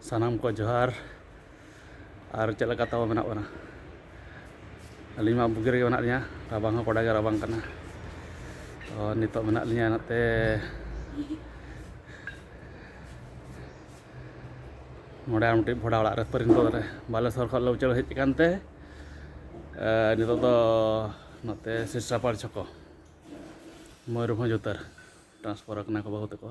ᱥᱟᱱᱟᱢ ᱠᱚ ᱡᱚᱦᱟᱨ ᱟᱨ ᱪᱮᱫ ᱞᱮᱠᱟ ᱛᱟᱵᱚ ᱢᱮᱱᱟᱜ ᱵᱚᱱᱟ ᱟᱹᱞᱤᱧ ᱢᱟ ᱵᱩᱜᱤ ᱨᱮᱜᱮ ᱢᱮᱱᱟᱜ ᱞᱤᱧᱟ ᱨᱟᱵᱟᱝ ᱦᱚᱸ ᱠᱚᱰᱟ ᱜᱮ ᱨᱟᱵᱟᱝ ᱠᱟᱱᱟ ᱛᱚ ᱱᱤᱛᱚᱜ ᱢᱮᱱᱟᱜ ᱞᱤᱧᱟ ᱱᱚᱛᱮ ᱱᱚᱰᱮ ᱟᱨ ᱢᱤᱫᱴᱤᱡ ᱵᱷᱚᱰᱟ ᱚᱲᱟᱜ ᱨᱮ ᱯᱟᱹᱨᱤᱱᱯᱚᱫ ᱨᱮ ᱵᱟᱞᱮᱥᱚᱨ ᱠᱷᱚᱱ ᱞᱮ ᱩᱪᱟᱹᱲ ᱦᱮᱡ ᱟᱠᱟᱱ ᱛᱮ ᱱᱤᱛᱚᱜ ᱫᱚ ᱱᱚᱛᱮ ᱥᱤᱥᱨᱟᱯᱟᱲ ᱪᱷᱚᱠᱚ ᱢᱚᱭᱩᱨᱵᱷᱚᱸᱡᱽ ᱩᱛᱟᱹᱨ ᱴᱨᱟᱱᱥᱯᱷᱟᱨ ᱠᱟᱱᱟ ᱠᱚ ᱵᱟᱹᱦᱩ ᱛᱟᱠᱚ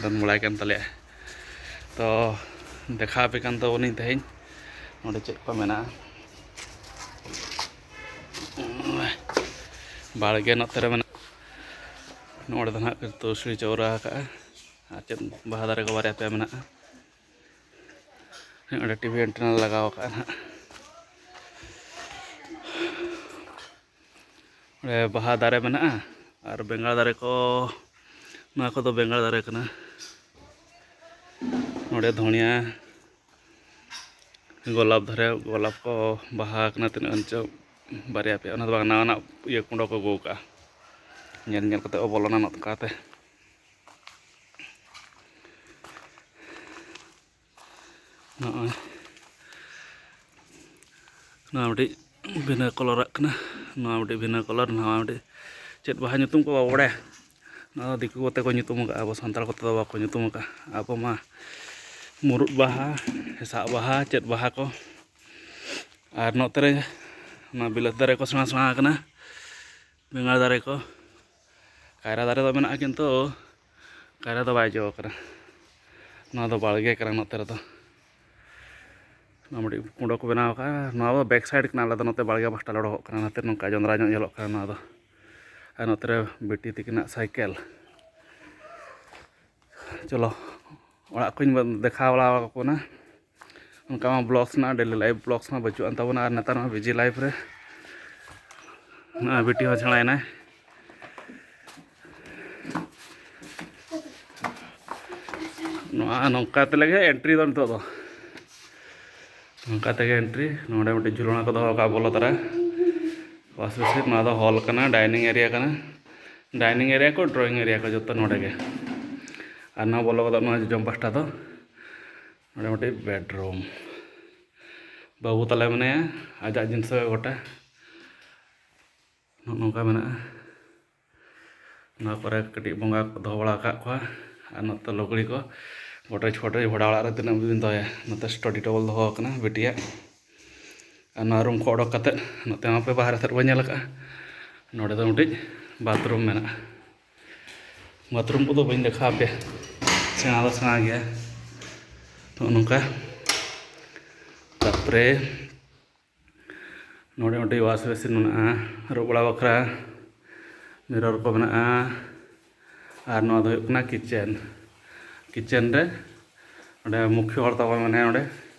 ᱫᱚᱱ ᱵᱟᱲᱟᱭ ᱠᱟᱱ ᱛᱟᱞᱮᱭᱟ ᱛᱚ ᱫᱮᱠᱷᱟᱣ ᱟᱯᱮ ᱠᱟᱱ ᱛᱟᱵᱚᱱᱤᱧ ᱛᱮᱦᱮᱧ ᱱᱚᱰᱮ ᱪᱮᱫ ᱠᱚ ᱢᱮᱱᱟᱜᱼᱟ ᱵᱟᱲᱜᱮ ᱱᱚᱛᱮ ᱨᱮ ᱢᱮᱱᱟᱜᱼᱟ ᱱᱚᱰᱮ ᱫᱚ ᱱᱟᱦᱟᱜ ᱛᱩᱞᱥᱤ ᱪᱟᱣᱨᱟ ᱟᱠᱟᱜᱼᱟ ᱟᱨ ᱪᱮᱫ ᱵᱟᱦᱟ ᱫᱟᱨᱮ ᱠᱚ ᱵᱟᱨᱭᱟ ᱯᱮᱭᱟ ᱢᱮᱱᱟᱜᱼᱟ ᱱᱚᱰᱮ ᱴᱤᱵᱷᱤ ᱮᱱᱴᱮᱱᱟ ᱞᱟᱜᱟᱣ ᱟᱠᱟᱜᱼᱟ ᱱᱟᱦᱟᱜ ᱚᱸᱰᱮ ᱵᱟᱦᱟ ᱫᱟᱨᱮ ᱢᱮᱱᱟᱜᱼᱟ ᱟᱨ ᱵᱮᱸᱜᱟᱲ ᱫᱟᱨᱮ ᱠᱚ ᱱᱚᱣᱟ ᱠᱚᱫᱚ ᱵᱮᱸᱜᱟᱲ ᱫᱟᱨᱮ ᱠᱟᱱᱟ ᱱᱚᱰᱮ ᱫᱷᱚᱱᱤᱭᱟ ᱜᱳᱞᱟᱯ ᱫᱷᱟᱨᱮ ᱜᱳᱞᱟᱯ ᱠᱚ ᱵᱟᱦᱟ ᱠᱟᱱᱟ ᱛᱤᱱᱟᱹᱜ ᱜᱟᱱ ᱪᱚ ᱵᱟᱨᱭᱟ ᱯᱮᱭᱟ ᱚᱱᱟ ᱫᱚ ᱵᱟᱝ ᱱᱟᱣᱟᱱᱟᱜ ᱤᱭᱟᱹ ᱠᱩᱸᱰᱚ ᱠᱚ ᱟᱹᱜᱩ ᱠᱟᱜᱼᱟ ᱧᱮᱞ ᱧᱮᱞ ᱠᱟᱛᱮ ᱠᱚ ᱵᱚᱞᱚᱱᱟ ᱱᱚᱝᱠᱟᱛᱮ ᱱᱚᱜᱼᱚᱭ ᱱᱚᱣᱟ ᱢᱤᱫᱴᱤᱡ ᱵᱷᱤᱱᱟᱹ ᱠᱚᱞᱚᱨᱟᱜ ᱠᱟᱱᱟ ᱱᱚᱣᱟ ᱢᱤᱫᱴᱤᱡ ᱵᱷᱤᱱᱟᱹ ᱠᱚᱞᱚᱨ ᱱᱚᱣᱟ ᱢᱤᱫᱴᱤᱡ ᱪᱮᱫ ᱵᱟᱦᱟ ᱧᱩᱛᱩᱢ ᱠᱚ ᱵᱟᱵᱚ ᱵᱟᱲᱟᱭᱟ ᱱᱚᱣᱟ ᱫᱤᱠᱩ ᱠᱚᱛᱮ ᱠᱚ ᱧᱩᱛᱩᱢ ᱟᱠᱟᱫᱼᱟ ᱟᱵᱚ ᱥᱟᱱᱛᱟᱲ ᱠᱚᱛᱮ ᱫᱚ ᱵᱟᱠᱚ ᱧᱩᱛᱩᱢ ᱟᱠᱟᱫᱼᱟ ᱟᱵᱚ ᱢᱟ ᱢᱩᱨᱩᱫ ᱵᱟᱦᱟ ᱦᱮᱸᱥᱟᱜ ᱵᱟᱦᱟ ᱪᱮᱫ ᱵᱟᱦᱟ ᱠᱚ ᱟᱨ ᱱᱚᱛᱮ ᱨᱮ ᱱᱚᱣᱟ ᱵᱤᱞᱟᱹᱛᱤ ᱫᱟᱨᱮ ᱠᱚ ᱥᱮᱬᱟ ᱥᱮᱬᱟ ᱟᱠᱟᱱᱟ ᱵᱮᱸᱜᱟᱲ ᱫᱟᱨᱮ ᱠᱚ ᱠᱟᱭᱨᱟ ᱫᱟᱨᱮ ᱫᱚ ᱢᱮᱱᱟᱜᱼᱟ ᱠᱤᱱᱛᱩ ᱠᱟᱭᱨᱟ ᱫᱚ ᱵᱟᱭ ᱡᱚ ᱟᱠᱟᱱᱟ ᱱᱚᱣᱟ ᱫᱚ ᱵᱟᱲᱜᱮ ᱠᱟᱱᱟ ᱱᱚᱛᱮ ᱨᱮᱫᱚ ᱱᱚᱣᱟ ᱢᱤᱫᱴᱤᱡ ᱠᱩᱸᱰᱚ ᱠᱚ ᱵᱮᱱᱟᱣ ᱟᱠᱟᱫᱼᱟ ᱱᱚᱣᱟ ᱫᱚ ᱵᱮᱠ ᱥᱟᱭᱤᱰ ᱠᱟᱱᱟ ᱟᱞᱮ ᱫᱚ ᱱᱚᱛᱮ ᱵᱟᱲᱜᱮ ᱯᱟᱥᱴᱟ ᱞᱮ ᱚᱰᱚᱠᱚᱜ ᱠᱟᱱᱟ ᱚᱱᱟᱛᱮ ᱱᱚᱝᱠᱟ ᱡᱚᱸᱫᱽᱨᱟ ᱧᱚᱜ ᱧᱮᱞᱚᱜ ᱠᱟᱱᱟ ᱱᱚᱣᱟ ᱫᱚ ᱟᱨ ᱱᱚᱛᱮ ᱨᱮ ᱵᱤᱴᱤ ᱛᱤᱠᱤᱱᱟᱜ ᱥᱟᱭᱠᱮᱞ ᱪᱚᱞᱚ ᱚᱲᱟᱜ ᱠᱚᱧ ᱫᱮᱠᱷᱟᱣ ᱵᱟᱲᱟ ᱟᱠᱚ ᱠᱟᱱᱟ ᱚᱱᱠᱟ ᱢᱟ ᱵᱞᱚᱜᱥ ᱨᱮᱱᱟᱜ ᱰᱮᱞᱤ ᱞᱟᱭᱤᱵᱷ ᱵᱞᱚᱜᱥ ᱢᱟ ᱵᱟᱹᱪᱩᱜ ᱟᱱ ᱛᱟᱵᱚᱱᱟ ᱟᱨ ᱱᱮᱛᱟᱨ ᱢᱟ ᱵᱤᱡᱤ ᱞᱟᱭᱤᱵᱷ ᱨᱮ ᱱᱚᱜᱼᱚᱭ ᱵᱤᱴᱤ ᱦᱚᱸ ᱪᱷᱟᱲᱟᱭᱮᱱᱟᱭ ᱱᱚᱣᱟ ᱱᱚᱝᱠᱟ ᱛᱮᱞᱮ ᱜᱮ ᱮᱱᱴᱨᱤ ᱫᱚ ᱱᱤᱛᱚᱜ ᱫᱚ ᱱᱚᱝᱠᱟ ᱛᱮᱜᱮ ᱮᱱᱴᱨᱤ ᱱᱚᱰᱮ ᱢᱤᱫᱴᱤᱡ ᱡᱷᱩᱞᱚᱱᱟ ᱠᱚ ᱫᱚᱦᱚ ᱟᱠᱟᱫ ᱵᱚᱞᱚ ᱛᱚᱨᱟ ᱵᱟᱥ ᱵᱮᱥᱤ ᱱᱚᱣᱟ ᱫᱚ ᱦᱚᱞ ᱠᱟᱱᱟ ᱰᱟᱭᱱᱤᱝ ᱮᱨᱤᱭᱟ ᱠᱟᱱᱟ ᱰᱟᱭᱱᱤᱝ ᱮᱨᱤᱭᱟ ᱠᱚ ᱰᱨᱚᱭᱤᱝ ᱮᱨᱤᱭᱟ ᱠᱚ ᱡᱚᱛᱚ ᱱᱚᱰᱮ ᱜᱮ ᱟᱨ ᱱᱚᱣᱟ ᱵᱚᱞᱚ ᱜᱚᱫᱚᱜ ᱱᱚᱣᱟ ᱡᱚᱡᱚᱢ ᱯᱟᱥᱴᱟ ᱫᱚ ᱱᱚᱰᱮ ᱢᱤᱫᱴᱤᱡ ᱵᱮᱰᱨᱩᱢ ᱵᱟᱹᱵᱩ ᱛᱟᱞᱮ ᱢᱮᱱᱟᱭᱟ ᱟᱡᱟᱜ ᱡᱤᱱᱤᱥ ᱜᱚᱴᱟ ᱱᱚᱝᱠᱟ ᱢᱮᱱᱟᱜᱼᱟ ᱱᱚᱣᱟ ᱠᱚᱨᱮ ᱠᱟᱹᱴᱤᱡ ᱵᱚᱸᱜᱟ ᱠᱚ ᱫᱚᱦᱚ ᱵᱟᱲᱟ ᱟᱠᱟᱫ ᱠᱚᱣᱟ ᱟᱨ ᱱᱚᱛᱮ ᱞᱩᱜᱽᱲᱤ ᱠᱚ ᱜᱚᱴᱨᱮᱡᱽ ᱯᱷᱚᱴᱨᱮᱡᱽ ᱵᱷᱟᱲᱟ ᱚᱲᱟᱜ ᱨᱮ ᱛᱤᱱᱟᱹᱜ ᱵᱤᱱ ᱫᱚᱦᱚᱭᱟ ᱱᱚᱛᱮ ᱥᱴᱟᱰᱤ ᱴᱮᱵᱚᱞ ᱫᱚᱦᱚ ᱟᱠᱟᱱᱟ ᱵᱤᱴᱤᱭᱟᱜ ᱟᱨ ᱱᱚᱣᱟ ᱨᱩᱢ ᱠᱷᱚᱱ ᱚᱰᱚᱠ ᱠᱟᱛᱮᱫ ᱱᱚᱛᱮ ᱢᱟᱯᱮ ᱵᱟᱦᱨᱮ ᱥᱮᱫ ᱵᱚᱱ ᱧᱮᱞ ᱟᱠᱟᱫᱼᱟ ᱱᱚᱰᱮ ᱫᱚ ᱢᱤᱫᱴᱤᱡ ᱵᱟᱛᱷᱨᱩᱢ ᱢᱮᱱᱟᱜᱼᱟ ᱵᱟᱛᱷᱨᱩᱢ ᱠᱚᱫᱚ ᱵᱟᱹᱧ ᱫᱮᱠᱷᱟᱣ ᱟᱯᱮᱭᱟ ᱥᱮᱬᱟ ᱫᱚ ᱥᱮᱬᱟ ᱜᱮᱭᱟ ᱱᱚᱜᱼᱚ ᱱᱚᱝᱠᱟ ᱛᱟᱨᱯᱚᱨᱮ ᱱᱚᱰᱮ ᱢᱤᱫᱴᱤᱡ ᱣᱟᱥ ᱵᱮᱥᱤᱱ ᱢᱮᱱᱟᱜᱼᱟ ᱟᱹᱨᱩᱵ ᱵᱟᱲᱟ ᱵᱟᱠᱷᱨᱟ ᱢᱤᱨᱚᱨ ᱠᱚ ᱢᱮᱱᱟᱜᱼᱟ ᱟᱨ ᱱᱚᱣᱟ ᱫᱚ ᱦᱩᱭᱩᱜ ᱠᱟᱱᱟ ᱠᱤᱪᱮᱱ ᱠᱤᱪᱮᱱ ᱨᱮ ᱱᱚᱰᱮ ᱢᱩᱠᱷᱭᱚ ᱦᱚᱲ ᱛᱟᱵᱚᱱ ᱢᱮᱱᱟᱭᱟ ᱱᱚᱰᱮ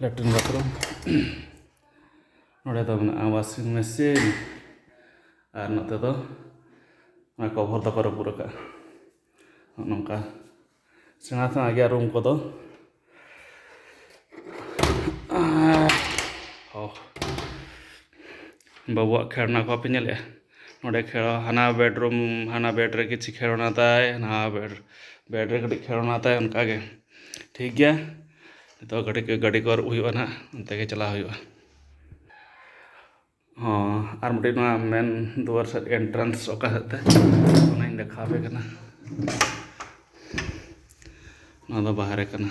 ᱞᱮᱴᱨᱤᱱ ᱵᱟᱛᱷᱨᱩᱢ ᱱᱚᱰᱮ ᱫᱚ ᱢᱮᱱᱟᱜᱼᱟ ᱣᱟᱥᱤᱝ ᱢᱮᱥᱤᱱ ᱟᱨ ᱱᱚᱛᱮ ᱫᱚ ᱚᱱᱟ ᱠᱚᱵᱷᱚᱨ ᱫᱚᱠᱚ ᱨᱟᱹᱯᱩᱫ ᱟᱠᱟᱫᱼᱟ ᱱᱚᱜᱼᱚ ᱱᱚᱝᱠᱟ ᱥᱮᱬᱟ ᱥᱮᱬᱟ ᱜᱮᱭᱟ ᱨᱩᱢ ᱠᱚᱫᱚ ᱟᱨ ᱵᱟᱹᱵᱩᱣᱟᱜ ᱠᱷᱮᱞᱱᱟ ᱠᱚ ᱵᱟᱯᱮ ᱧᱮᱞᱮᱫᱼᱟ ᱱᱚᱸᱰᱮ ᱠᱷᱮᱞᱳ ᱦᱟᱱᱟ ᱵᱮᱰᱨᱩᱢ ᱦᱟᱱᱟ ᱵᱮᱰ ᱨᱮ ᱠᱤᱪᱷᱩ ᱠᱷᱮᱞᱱᱟ ᱛᱟᱭ ᱱᱟᱣᱟ ᱵᱮᱰ ᱵᱮᱰ ᱨᱮ ᱠᱟᱹᱴᱤᱡ ᱠᱷᱮᱞᱱᱟ ᱛᱟᱭ ᱚᱱᱠᱟ ᱜᱮ ᱴᱷᱤᱠ ᱜᱮᱭᱟ ᱱᱤᱛᱚᱜ ᱠᱟᱹᱴᱤᱡ ᱜᱟᱹᱰᱤ ᱠᱚ ᱟᱹᱨᱩᱵ ᱦᱩᱭᱩᱜᱼᱟ ᱱᱟᱜ ᱚᱱᱛᱮ ᱜᱮ ᱪᱟᱞᱟᱣ ᱦᱩᱭᱩᱜᱼᱟ ᱦᱚᱸ ᱟᱨ ᱢᱤᱫᱴᱤᱡ ᱱᱚᱣᱟ ᱢᱮᱱ ᱫᱩᱣᱟᱹᱨ ᱥᱮᱫ ᱮᱱᱴᱨᱟᱱᱥ ᱚᱠᱟ ᱥᱮᱫ ᱛᱮ ᱚᱱᱟᱧ ᱫᱮᱠᱷᱟᱣ ᱟᱯᱮ ᱠᱟᱱᱟ ᱱᱚᱣᱟ ᱫᱚ ᱵᱟᱦᱨᱮ ᱠᱟᱱᱟ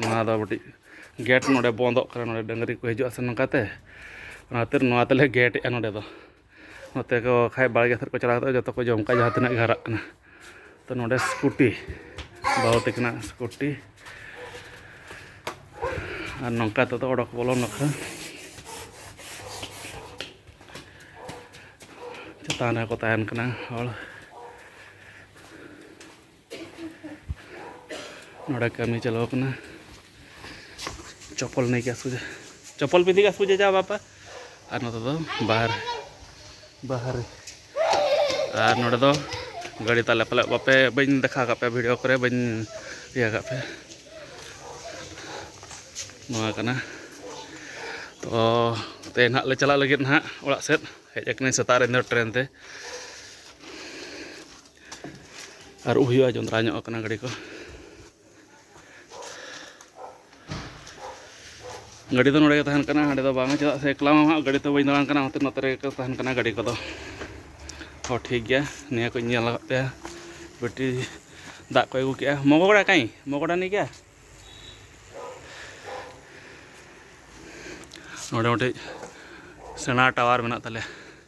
ᱱᱚᱣᱟ ᱫᱚ ᱢᱤᱫᱴᱤᱡ ᱜᱮᱴ ᱱᱚᱰᱮ ᱵᱚᱱᱫᱚᱜ ᱠᱟᱱᱟ ᱱᱚᱰᱮ ᱰᱟᱹᱝᱨᱤ ᱠᱚ ᱦᱤᱡᱩᱜᱼᱟ ᱥᱮ ᱱᱚᱝᱠᱟᱛᱮ ᱚᱱᱟ ᱠᱷᱟᱹᱛᱤᱨ ᱱᱚᱣᱟ ᱛᱮᱞᱮ ᱜᱮᱴ ᱮᱫᱼᱟ ᱱᱚᱰᱮ ᱫᱚ ᱱᱚᱛᱮ ᱠᱚ ᱠᱷᱟᱡ ᱵᱟᱲᱜᱮ ᱥᱮᱫ ᱠᱚ ᱪᱟᱞᱟᱣ ᱠᱟᱛᱮᱫ ᱡᱚᱛᱚ ᱠᱚ ᱡᱚᱢ ᱠᱟᱜᱼᱟ ᱡᱟᱦᱟᱸ ᱛᱤᱱᱟᱹᱜ ᱜᱮ ᱦᱟᱨᱟᱜ ᱠᱟᱱᱟ ᱛᱚ ᱱᱚᱰᱮ ᱥᱠᱩᱴᱤ ᱵᱟᱹᱦᱩ ᱛᱟᱹᱠᱤᱱᱟᱜ ᱥᱠᱩᱴᱤ ᱟᱨ ᱱᱚᱝᱠᱟ ᱛᱮᱫᱚ ᱚᱰᱚᱠ ᱵᱚᱞᱚ ᱱᱟᱠᱷᱟ ᱪᱮᱛᱟᱱ ᱨᱮᱠᱚ ᱛᱟᱦᱮᱱ ᱠᱟᱱᱟ ᱦᱚᱲ ᱱᱚᱰᱮ ᱠᱟᱹᱢᱤ ᱪᱟᱞᱟᱣ ᱠᱟᱱᱟ ᱪᱚᱯᱚᱞ ᱱᱟᱹᱭ ᱜᱮ ᱥᱩᱡᱟ ᱪᱚᱯᱚᱞ ᱯᱤᱫᱤ ᱜᱮ ᱥᱩᱡᱟ ᱡᱟ ᱵᱟᱯᱟ ᱟᱨ ᱱᱚᱛᱮ ᱫᱚ ᱵᱟᱦᱟᱨ ᱵᱟᱦᱟᱨ ᱟᱨ ᱱᱚᱰᱮ ᱫᱚ ᱜᱟᱹᱰᱤ ᱛᱟᱞᱮ ᱯᱟᱞᱮ ᱵᱟᱯᱮ ᱵᱟᱹᱧ ᱫᱮᱠᱷᱟᱣ ᱠᱟᱜ ᱯᱮ ᱵᱷᱤᱰᱤᱭᱳ ᱠᱚᱨᱮ ᱵᱟᱹᱧ ᱤᱭᱟᱹ ᱠᱟᱜ ᱯᱮ ᱱᱚᱣᱟ ᱠᱟᱱᱟ ᱛᱚ ᱛᱮᱦᱮᱧ ᱦᱟᱸᱜ ᱞᱮ ᱪᱟᱞᱟᱜ ᱞᱟᱹᱜᱤᱫ ᱦᱟᱸᱜ ᱚᱲᱟᱜ ᱥᱮᱫ ᱦᱮᱡ ᱟᱠᱟᱱᱟᱹᱧ ᱥᱮᱛᱟᱜ ᱨᱮ ᱤᱧ ᱫᱚ ᱴᱨᱮᱱ ᱛᱮ ᱟᱹᱨᱩᱵ ᱦᱩᱭᱩᱜᱼᱟ ᱡᱚᱸᱫᱽᱨᱟ ᱧᱚᱜ ᱠᱟᱱᱟ ᱜᱟᱹᱰᱤ ᱠᱚ ᱜᱟᱹᱰᱤ ᱫᱚ ᱱᱚᱰᱮ ᱜᱮ ᱛᱟᱦᱮᱱ ᱠᱟᱱᱟ ᱦᱟᱸᱰᱮ ᱫᱚ ᱵᱟᱝ ᱪᱮᱫᱟᱜ ᱥᱮ ᱮᱠᱞᱟ ᱢᱟ ᱦᱟᱸᱜ ᱜᱟᱹᱰᱤ ᱛᱮ ᱵᱟᱹᱧ ᱫᱟᱬᱟᱱ ᱠᱟᱱᱟ ᱚᱱᱟᱛᱮ ᱱᱚᱛᱮ ᱨᱮᱜᱮ ᱛᱟᱦᱮᱱ ᱠᱟᱱᱟ ᱜᱟᱹᱰᱤ ᱠᱚᱫᱚ ᱦᱚᱸ ᱴᱷᱤᱠ ᱜᱮᱭᱟ ᱱᱤᱭᱟᱹ ᱠᱚᱧ ᱧᱮᱞ ᱟᱠᱟᱫ ᱯᱮᱭᱟ ᱵᱮᱴᱨᱤ ᱫᱟᱜ ᱠᱚ ᱟᱹᱜᱩ ᱠᱮᱜᱼᱟ ᱢᱚᱜᱚᱲᱟ ᱠᱟᱹᱧ ᱢᱚᱜᱚᱲᱟ ᱱᱤ ᱜᱮᱭᱟ ᱱᱚᱰᱮ ᱢᱤᱫᱴᱤᱡ ᱥᱮᱬᱟ ᱴᱟᱣᱟᱨ ᱢᱮᱱᱟᱜ ᱛᱟᱞᱮᱭᱟ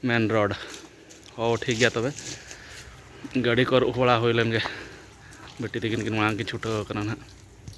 ᱢᱮᱱ ᱨᱳᱰ ᱦᱚ ᱴᱷᱤᱠ ᱜᱮᱭᱟ ᱛᱚᱵᱮ ᱜᱟᱹᱰᱤ ᱠᱚ ᱟᱹᱨᱩᱵ ᱵᱟᱲᱟ ᱦᱩᱭ ᱞᱮᱱᱜᱮ ᱵᱤᱴᱤ ᱛᱟᱹᱠᱤᱱ ᱠᱤᱱ ᱢᱟᱲᱟᱝ ᱠᱤᱱ ᱪᱷᱩᱴᱟᱹᱣ ᱠᱟᱱᱟ ᱦᱟᱸᱜ